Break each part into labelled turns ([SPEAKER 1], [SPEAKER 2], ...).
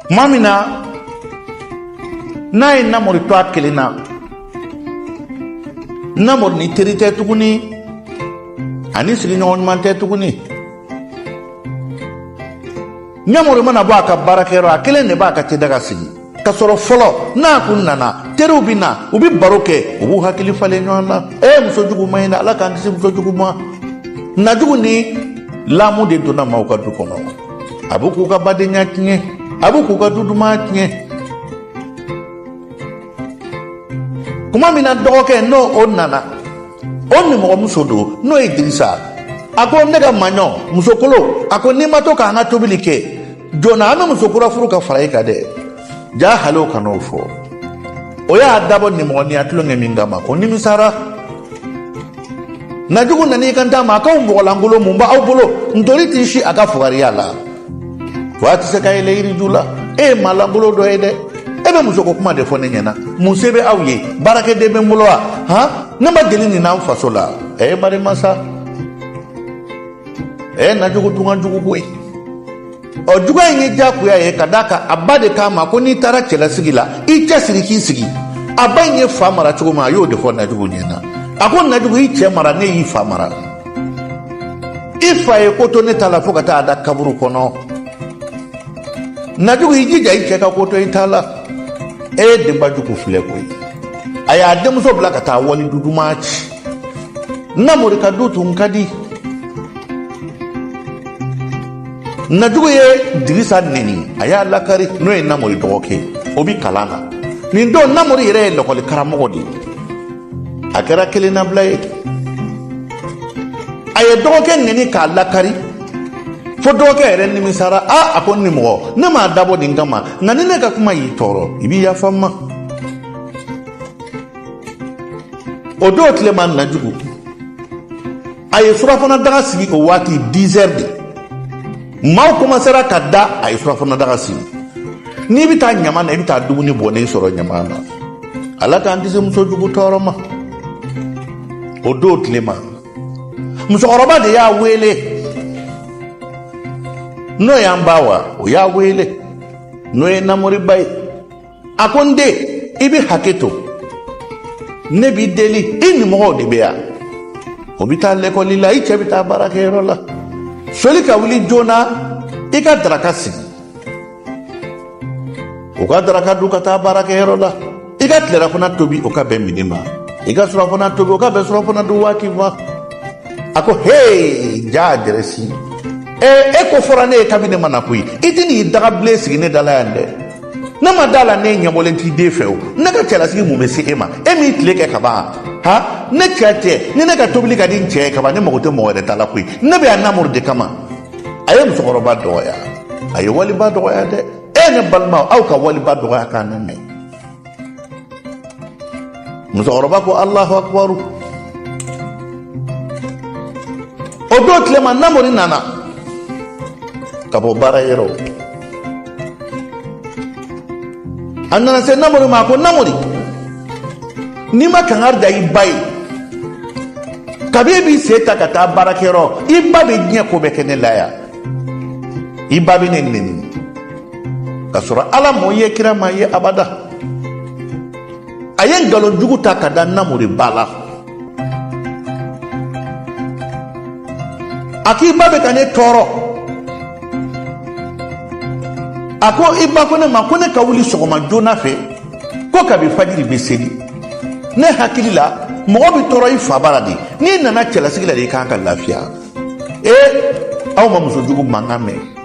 [SPEAKER 1] tuma min na n'a ye namori to a kelen na namori ni teri tɛ tuguni ani sigiɲɔgɔn ɲuman tɛ tuguni namori mana bɔ a ka baarakɛyɔrɔ a kelen de b'a ka te daga sigi ka sɔrɔ fɔlɔ n'a kun nana teriw bɛ na u bɛ baro kɛ u b'u hakili falen ɲɔgɔn na e muso jugu man ɲi dɛ ala k'an kisi muso jugu ma najugu ni lamu de donna maaw ka du kɔnɔ a bɛ k'u ka badenya tiɲɛ a bɛ k'u ka du duman tiɲɛ kuma min na dɔgɔkɛ n'o o nana o nimɔgɔmuso don n'o ye dirisa a ko ne ka maɲɔ musokolon a ko n'i ma to k'an ka tobili kɛ joona an bɛ muso kura furu ka fara i kan dɛ ja hali o kan'o fɔ o y'a dabɔ nimɔgɔniya tulonkɛ min kama o nimisara najugu nana i kant'a ma a k'aw mɔgɔlankolon mun b'aw bolo ntori t'i si a ka fugariya la wa a tɛ se ka yɛlɛn yiriju la e ye maa lankolon dɔ ye dɛ e bɛ musoko kuma de fɔ ne ɲɛna mun se bɛ aw ye baarakɛden bɛ n bolo wa han ne ma deli nin n'an faso la ɛ ye marimasa ɛ najugu tun ka jugu koyi ɔ juguya in ye diyagoya ye ka d'a kan a ba de k'a ma ko n'i taara cɛlasigi la i cɛsiri k'i sigi a ba in ye fa mara cogo min a y'o de fɔ najugu ɲɛ na a ko najugu i cɛ mara ne y'i fa mara i fa ye ko to ne ta la fo ka taa a da kaburu kɔnɔ najugu i jija i cɛ ka ko to i ta la e ye denba jugu filɛ koyi a y'a denmuso bila ka taa wali du duman ci namori ka du tun ka di najugu ye dirisa neni a y'a lakari n'o ye namori dɔgɔkɛ o bi kalan na nin don namori yɛrɛ ye lakɔli karamɔgɔ de ye a kɛra kelennabila ye a ye dɔgɔkɛ neni k'a lakari fo dɔgɔkɛ yɛrɛ nimisara a a ko nimɔgɔ ne m'a dabɔ nin kama nka ni ne ka kuma y'i tɔɔrɔ i b'i yafa n ma o don tilema najugu a ye surafana daga sigi o waati dix heures de maaw komansera ka da a ye surafana daga sigi n'i bɛ taa ɲama na i bɛ taa dumuni bɔnnen sɔrɔ ɲama na ala k'an kisi muso jugu tɔɔrɔ ma o don tilema musokɔrɔba de y'a wele n'o y'an ba awa o y'a wele n'o ye namori ba ye a ko n den i bɛ hakɛ to ne b'i deli i nimɔgɔw de bɛ yan o bɛ taa lɛkɔli la i cɛ bɛ taa baarakɛyɔrɔ la soli ka wuli joona i ka daraka sigi u ka daraka dun ka taa baarakɛyɔrɔ la i ka tilelafana tobi o ka bɛn midi ma i ka surafana tobi o ka bɛn surafana dun waati ma a ko hee jaa dɛrɛsi ee e ko fɔra ne ye kabini ne ma na koyi i tɛ n'i dagabilen sigi ne dala yan dɛ ne ma d'a la ne ɲɛbɔlen t'i den fɛ o ne ka cɛlasigi mun bɛ se e ma e m'i tile kɛ ka ban han ne cɛ cɛ ni ne ka tobili ka di n cɛ ye ka ban ne mago tɛ mɔgɔ wɛrɛ ta la koyi ne bɛ yan namori de kama a ye musokɔrɔba dɔgɔya a ye waliba dɔgɔya dɛ e ne balimaw aw ka waliba dɔgɔya kan lamɛn musokɔrɔba ko alahu akubaru o don tilema namori nana ka bɔ baara yɔrɔ a nana se namori ma a ko namori n'i ma kangari da i ba ye kabi e b'i sen ta ka taa baarakɛyɔrɔ i ba bɛ diɲɛ ko bɛɛ kɛ ne la yan i ba bɛ ne nɛni ka sɔrɔ ala m'o ye kira m'a ye abada a ye nkalon jugu ta ka da namori ba la a k'i ba bɛ ka ne tɔɔrɔ a ko i ba ko ne ma ko ne ka wuli sɔgɔma joona fɛ ko kabi fajiri bɛ seli ne hakili la mɔgɔ bɛ tɔɔrɔ i fa bara de n'i nana cɛlasigi la de i ka kan ka lafiya ee aw ma muso jugu mankan mɛn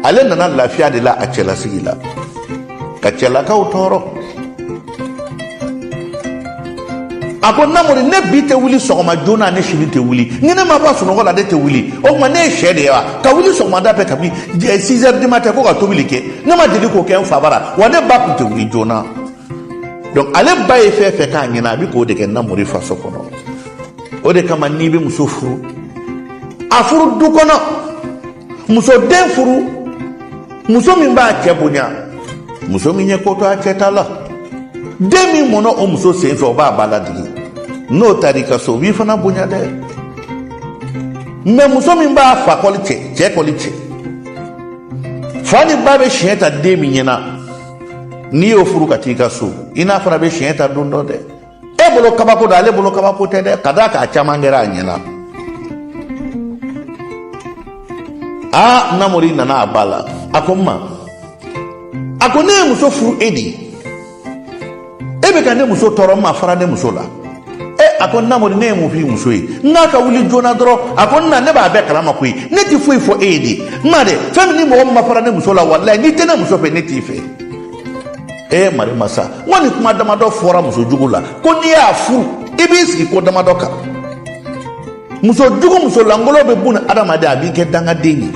[SPEAKER 1] ale nana lafiya de la a cɛlasigi la ka cɛlakaw tɔɔrɔ a ko namori ne bi tɛ wuli sɔgɔma joona ne sini tɛ wuli ni ne ma bɔ sunɔgɔ la ne tɛ wuli o tuma ne ye sɛ de ye wa ka wuli sɔgɔmada fɛ kabi six heures du matin ko ka tobili kɛ ne ma deli k'o kɛ n fa bara wa ne ba tun tɛ wuli joona donc ale ba ye fɛn fɛn k'a ɲɛna a bɛ k'o de kɛ namori faso kɔnɔ o de kama n'i bɛ muso furu a furu du kɔnɔ muso den furu muso min b'a cɛ bonya muso min ye ko to a cɛ ta la den min mɔna o muso sen fɛ o b'a ba ladigi n'o taara i ka so o b'i fana bonya dɛ mais muso min b'a fa kɔli cɛ cɛ kɔli cɛ fa ni ba bɛ siɲɛ ta den min ɲɛna n'i y'o furu ka t'i ka so i n'a fana bɛ siɲɛ ta don dɔ dɛ e bolo kabako don ale bolo kabako tɛ dɛ ka d'a kan a caman kɛra a ɲɛna aa namori nana a ba la a ko n ma a ko ne ye muso furu e de e bɛ ka ne muso tɔɔrɔ n ma fara ne muso la e a ko namori ne ye mun f'i muso ye n k'a ka wuli joona dɔrɔn a ko n na ne b'a bɛɛ kalama koyi ne tɛ foyi fɔ e ye de n ma dɛ fɛn min ni mɔgɔ min ma fara ne muso la walayi n'i tɛ ne muso fɛ ne t'i fɛ ee mari masa n ko nin kuma damadɔ fɔra muso jugu la ko n'i y'a furu i b'i sigi ko damadɔ kan muso jugu muso lankolon bɛ bunadamaden a b'i kɛ dangaden ye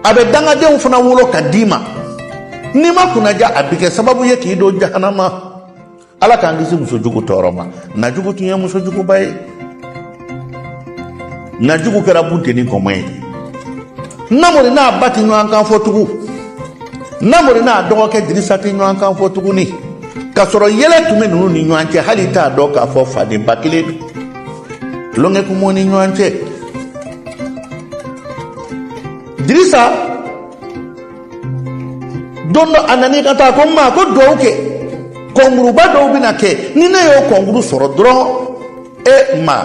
[SPEAKER 1] a bɛ dangadenw fana wolo ka d'i ma n'i ma kunnaja a bɛ kɛ sababu ye k'i don jahanama ala k'an kisi muso jugu tɔɔrɔ ma najugu tun ye muso juguba ye najugu kɛra bunteni kɔmɔ ye namori n'a ba tɛ ɲɔgɔn kan fɔ tugun namori n'a dɔgɔkɛ dirisa tɛ ɲɔgɔn kan fɔ tuguni k'a sɔrɔ yɛlɛ tun bɛ ninnu ni ɲɔgɔn cɛ hali t'a dɔn k'a fɔ fa ni ba kelen don tulonkɛ kun b'u ni ɲɔgɔn cɛ dirisa don dɔ a nana i kanto a ko n ma ko duwawu kɛ kɔnkuruba dɔw bɛna kɛ ni ne y'o kɔnkuru sɔrɔ dɔrɔn e ma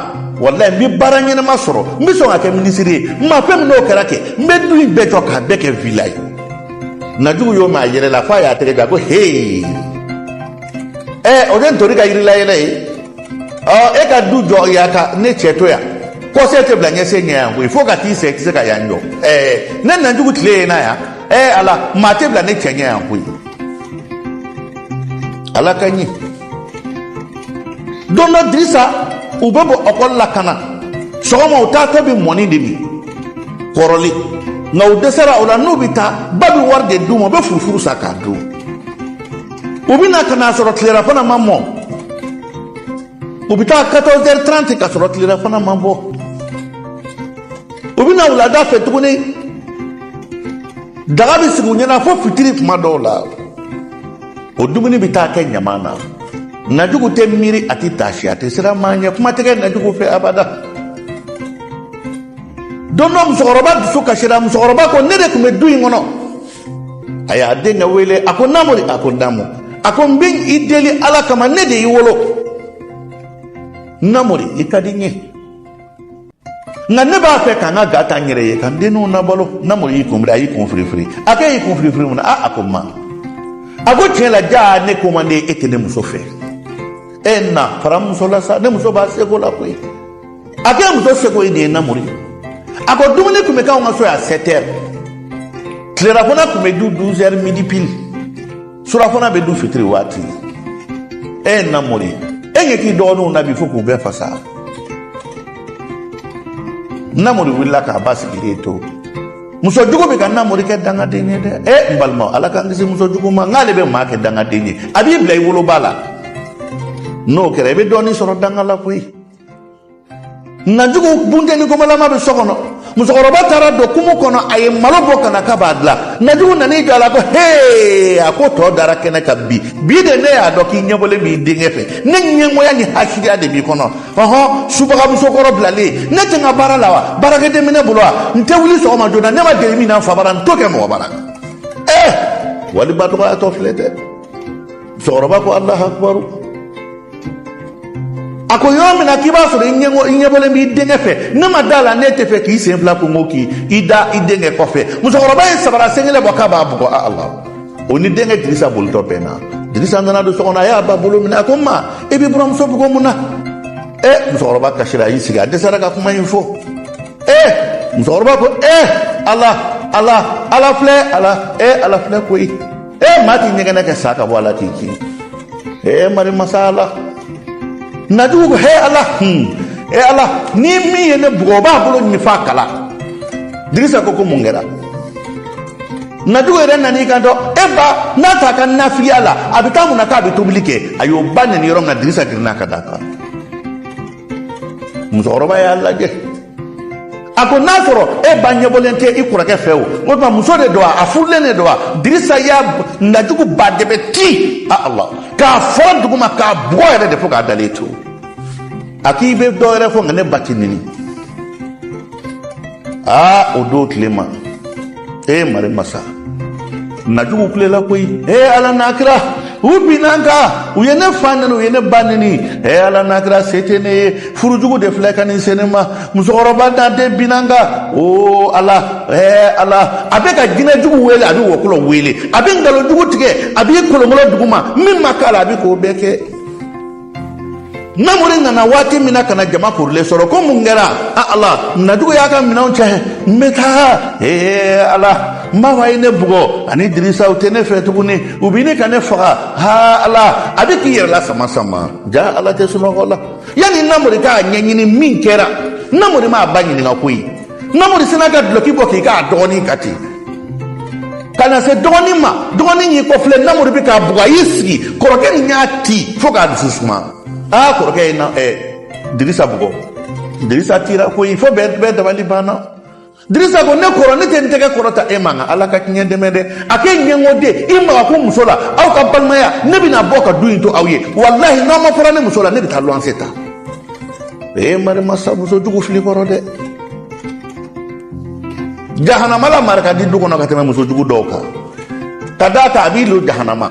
[SPEAKER 1] walayi n bɛ baara ɲɛnama sɔrɔ n bɛ sɔn ka kɛ minisiri ye n ma fɛn min n'o kɛra kɛ n bɛ du in bɛɛ jɔ k'a bɛɛ kɛ vila ye najugu y'o mɛn a yɛlɛla f'a y'a tɛgɛ jɔ a ko hee ɛ o de ye ntori ka yirilayɛlɛ ye ɔ e ka du jɔ yan ka ne cɛ to yan kɔsen tɛ bila ɲɛsen ɲɛ yan koyi fo ka t'i sa i tɛ se ka yan jɔ ɛɛ ne najugu tile ye na yan ɛɛ ala maa tɛ bila ne cɛ ɲɛ yan koyi ala ka ɲi don dɔ dirisa u bɛ bɔ ekɔli la ka na sɔgɔma u taatɔ bɛ mɔni de min kɔrɔlen nka u dɛsɛra o la n'u bɛ taa ba bɛ wari de d'u ma u bɛ furufuru san k'a dun u bɛ na ka n'a sɔrɔ tilerafana ma mɔ u bɛ taa quatorze heures trente ka sɔrɔ tilerafana ma bɔ u bɛ na wulada fɛ tuguni daga bɛ sigi u ɲɛna fo fitiri tuma dɔw la o dumuni bɛ taa kɛ ɲaman na najugu tɛ miiri a tɛ taasi a tɛ siran maa ɲɛ kuma tɛ kɛ najugu fɛ abada don dɔ musokɔrɔba dusu kasira musokɔrɔba ko ne de tun bɛ du in kɔnɔ a y'a denkɛ wele a ko namori a ko naamu a ko n bɛ i deli ala kama ne de y'i wolo namori i ka di n ye nka ne b'a fɛ ka n ka ga ta n yɛrɛ ye ka n denninw labalo namori y'i kun biri a y'i kun firifiri a ko e y'i kun firifiri mun na a a ko ma a ko tiɲɛ la jaa ne ko man di e tɛ ne muso fɛ e na fara muso la sa ne muso b'a seko la koyi a k'e muso seko ye nin ye namori a ko dumuni tun bɛ k'anw ka so yan sept heures tilerafana tun bɛ dun douze heures midi pile surafana bɛ dun fitiri waati ee namori e ɲɛ t'i dɔgɔninw na bi fo k'u bɛɛ fasa namori wulila k'a ba sigilen to muso jugu bɛ ka namori kɛ dangaden ye dɛ e n balima ala k'an kisi muso jugu ma nk'ale bɛ maa kɛ dangaden ye a b'i bila i woloba la n'o kɛra i bɛ dɔɔnin sɔrɔ danga la koyi najugu bunteni komalama bɛ so kɔnɔ musokɔrɔba taara don kumu kɔnɔ a ye malo bɔ ka na k'a b'a dilan najugu nan'i jɔ a la ko hee a ko tɔ dara kɛnɛ kan bi bi de ne y'a dɔn k'i ɲɛbɔlen b'i denkɛ fɛ ne ɲɛngoya ni hasidiya de b'i kɔnɔ ɔhɔn subagamuso kɔrɔ bilalen ne tɛ n ka baara la wa baarakɛden bɛ ne bolo wa n tɛ wuli sɔgɔma joona ne ma deli min na n fa bara n t'o kɛ mɔgɔ bara ee waliba dɔgɔyatɔ filɛ dɛ musokɔrɔba ko alahu akibaru a ko yɔrɔ min na k'i b'a sɔrɔ i ɲɛ i ɲɛbɔlen b'i denkɛ fɛ ne ma da a la n'e tɛ fɛ k'i sen fila kungo k'i i da i denkɛ kɔfɛ musokɔrɔba ye sabara sen kelen bɔ k'a b'a bugɔ a ala o ni denkɛ dirisa bolitɔ bɛnna dirisa nana don so kɔnɔ a y'a ba bolo minɛ a ko ma i b'i buramuso bugɔ mun na ɛ musokɔrɔba kasira a y'i sigi a dɛsɛra ka kuma in fɔ ɛ musokɔrɔba ko ɛ ala ala ala filɛ ala ɛ ala filɛ koyi e maa t'i ɲɛgɛnɛ kɛ sa ka bɔ a la k'i kin ee mari masa ala najugu ko he ala hun e ala ni min ye ne bugɔ o b'a bolo ɲini f'a kala dirisa ko ko mun kɛra najugu yɛrɛ nan'i kanto e ba n'a t'a ka nafigiya la a bɛ taa mun na k'a bɛ tobili kɛ a y'o ba neni yɔrɔ min na dirisa girinna ka d'a kan musokɔrɔba y'a lajɛ a ko n'a sɔrɔ e ba ɲɛbɔlen tɛ i kɔrɔkɛ fɛ o o tuma muso de don wa a furulen de don wa dirisa y'a najugu ba de bɛ ti a ala k'a fɔ duguma k'a bugɔ yɛrɛ de fo k'a dalen to a k'i bɛ dɔ wɛrɛ fɔ nka ne ba tɛ neni aa o don tile ma e mari masa najugu kulela koyi e ala n'a kira u binna n kan u ye ne fa neni u ye ne ba neni e ala n'a kira se tɛ ne ye furujugu de filɛ ka nin se ne ma musokɔrɔba n'a den binna n kan o ala e ala a bɛ ka jinɛ jugu wele a bɛ wɔkulɔ wele a bɛ nkalon jugu tigɛ a b'i kolonkolon duguma min ma k'a la a bɛ k'o bɛɛ kɛ namori nana waati min na ka na jama korilen sɔrɔ ko mun kɛra a ala najugu y'a ka minɛnw cɛ n bɛ taa ee ala n ba awa ye ne bugɔ ani dirisa u tɛ ne fɛ tuguni u bɛ ɲini ka ne faga ha ala a bɛ k'i yɛrɛ la sama sama jaa ala tɛ sunɔgɔ la yanni namori k'a ɲɛɲini min kɛra namori m'a ba ɲininka koyi namori sinna ka dulɔki bɔ k'i k'a dɔgɔnin ka ten ka na se dɔgɔnin ma dɔgɔnin y'i kɔfilɛ namori bɛ k'a bugɔ a y'i sigi kɔrɔkɛ nin y'a ti fo k'a dusu suma aa kɔrɔkɛ ye na ɛ dirisa bugɔ dirisa tira koyi fo bɛɛ bɛɛ dabali banna dirisa ko ne kɔrɔ ne tɛ n tɛgɛ kɔrɔta e ma nka ala ka tiɲɛ dɛmɛ dɛ a k'e ɲɛngoden i maga ko muso la aw ka balimaya ne bɛna bɔ ka du in to aw ye walahi n'aw ma fara ne muso la ne bɛ taa luwanse ta ee mari masa muso jugu fili kɔrɔ dɛ jahanama lamara ka di du kɔnɔ ka tɛmɛ muso jugu dɔw kan ka d'a kan a b'i lo jahanama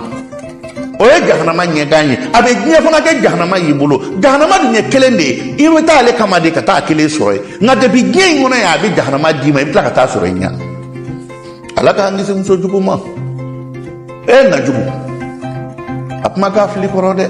[SPEAKER 1] o ye jahanama ɲɛgan ye a bɛ diɲɛ fana kɛ jahanama y'i bolo jahanama dun ye kelen de ye i bɛ taa ale kama de ka taa a kelen sɔrɔ yen nka depi diɲɛ in kɔnɔ yan a bɛ jahanama d'i ma i bɛ tila ka t'a sɔrɔ i ɲɛ ala k'an kisi muso jugu ma e najugu a kuma k'a fili kɔrɔ dɛ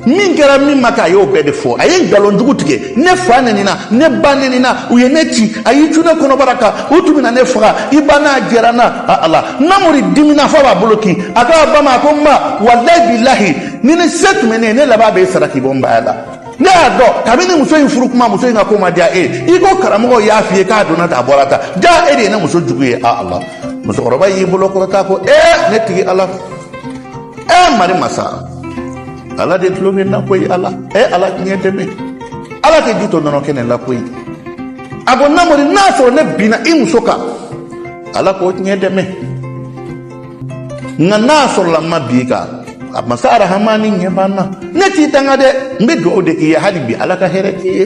[SPEAKER 1] min kɛra min ma kɛ a y'o bɛɛ de fɔ a ye nkalon jugu tigɛ ne fa nenina ne ba nenina u ye ne ci a y'i cun ne kɔnɔbara kan u tun bɛna ne faga i ba n'a jɛra n na a ala namori dimina fo a b'a bolo kin a k'a ba ma a ko n ba walayi bilahi ni ne se tun bɛ ne ye ne laban b'i sara k'i bɔ n baya la ne y'a dɔn kabini muso in furu kuma muso in ka ko ma diya e ye i ko karamɔgɔ y'a f'i ye k'a donna tan a bɔra tan jaa e de ye ne muso jugu ye a ala musokɔrɔba y'i bolo kɔrɔta ko ee ne tigi ala ee mari masa ala de tulo bɛ n na koyi ala ee ala tiɲɛ dɛmɛ ala tɛ ji to nɔnɔ kɛnɛ la koyi a ko namori n'a sɔrɔ ne binna i muso kan ala k'o tiɲɛ dɛmɛ nka n'a sɔrɔla n ma bin a kan a masa arahamani ɲɛ b'an na ne t'i danga dɛ n bɛ dugawu de k'i ye hali bi ala ka hɛrɛ k'i ye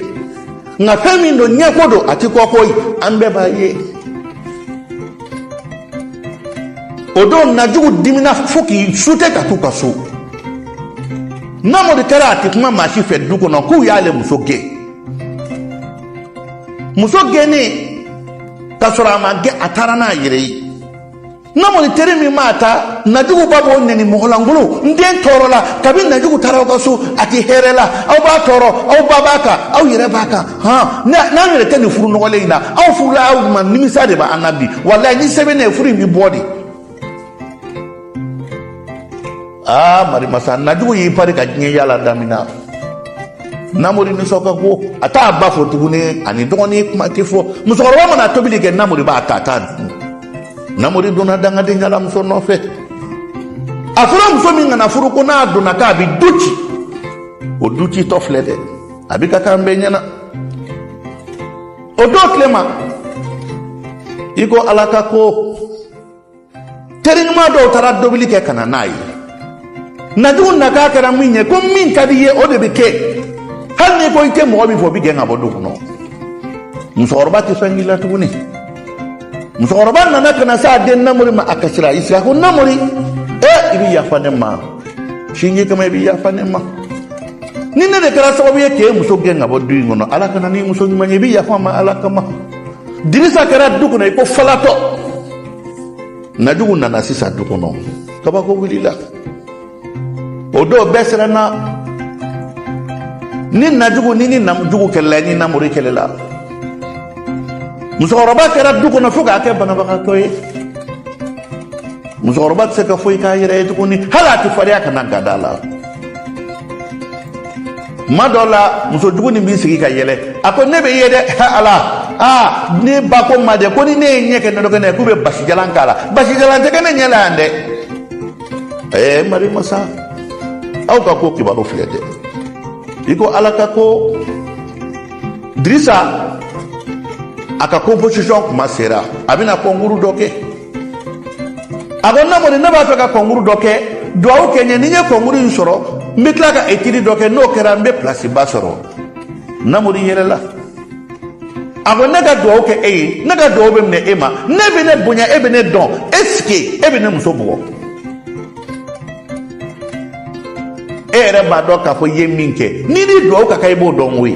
[SPEAKER 1] nka fɛn min don ɲɛko don a ti kɔko ye an bɛɛ b'a ye o don najugu dimina fo k'i sute ka t'u ka so namori kɛra a ti kuma maa si fɛ du kɔnɔ k'u y'ale muso gɛn muso gɛnnen ka sɔrɔ a ma gɛn a taara n'a yɛrɛ ye namori teri min mana taa najugu ba b'o nɛni mɔgɔlankolo n den tɔɔrɔla kabi najugu taara aw ka so a tɛ hɛrɛ la aw b'a tɔɔrɔ aw ba b'a kan aw yɛrɛ b'a kan hɔn n'an yɛrɛ tɛ nin furu nɔgɔlen in na a furula aw ma nimisa de b'an na bi walayi ni se bɛ ne ye furu in bɛ bɔ de aa marimasa najugu y'i pari ka diɲɛ yala damina namori nisɔn ka go a t'a ba fo tuguni a ni dɔgɔnin kuma tɛ fɔ musokɔrɔba mana tobili kɛ namori b'a ta a t'a dun namori donna dangadenya la muso nɔfɛ a fɔra muso min kana furu ko n'a donna k'a bɛ du ci o du citɔ filɛ dɛ a bɛ ka k'an bɛɛ ɲɛna o don tile ma i ko ala ka ko teri ɲuman dɔw taara delili kɛ ka na n'a ye najugu na k'a kɛra min ye ko min ka d'i ye o de bɛ kɛ hali n'i ko i tɛ mɔgɔ min fɛ o bɛ gɛn ka bɔ du kɔnɔ musokɔrɔba tɛ sɔn k'i la tuguni musokɔrɔba nana ka na s'a den namori ma a kasira i sigi a ko namori e i bɛ yafa ne ma sinji kama i bɛ yafa ne ma ni ne de kɛra sababu ye k'e muso gɛn ka bɔ du in kɔnɔ ala ka na n'i muso ɲuman ye i bɛ yafa n ma ala kama dirisa kɛra du kɔnɔ i ko falatɔ najugu nana sisan du kɔnɔ kabako wulila o don bɛɛ siranna ni najugu ni ni najugu kɛlɛla ni namori kɛlɛla musokɔrɔba kɛra du kɔnɔ fo k'a kɛ banabagatɔ ye musokɔrɔba tɛ se ka foyi k'a yɛrɛ ye tuguni hali a tɛ fariya ka na gada la kuma dɔw la muso jugu nin b'i sigi ka yɛlɛ a ko ne bɛ ye dɛ ala aa ne ba ko n ma dɛ ko ni ne ye n ɲɛ kɛ nɔnɔ kɛnɛ k'u bɛ basijalan k'a la basijalan tɛ kɛ ne ɲɛ la yan dɛ ɛɛ mari masa aw ka ko kibaru filɛ dɛ i ko ala ka ko dirisa a ka composition kuma sera a bɛna concours dɔ kɛ a ko namori ne b'a fɛ ka kɔnkuru dɔ kɛ duwawu kɛ n ye ni n ye kɔnkuru in sɔrɔ n bɛ tila ka etidi dɔ kɛ n'o kɛra n bɛ pilasiba sɔrɔ namori yɛlɛla a ko ne ka duwawu kɛ e ye ne ka duwawu bɛ minɛ e ma n'e bɛ ne bonya e bɛ ne dɔn est-ce que e bɛ ne muso bugɔ e yɛrɛ b'a dɔn k'a fɔ i ye min kɛ n'i ni duwawu ka kan i b'o dɔn koyi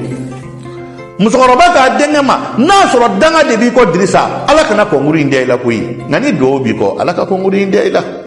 [SPEAKER 1] musokɔrɔba k'a denkɛ ma n'a sɔrɔ danga de b'i kɔ dirisa ala kana kɔnkuru in da i la koyi nka ni duwawu b'i kɔ ala ka kɔnkuru in da i la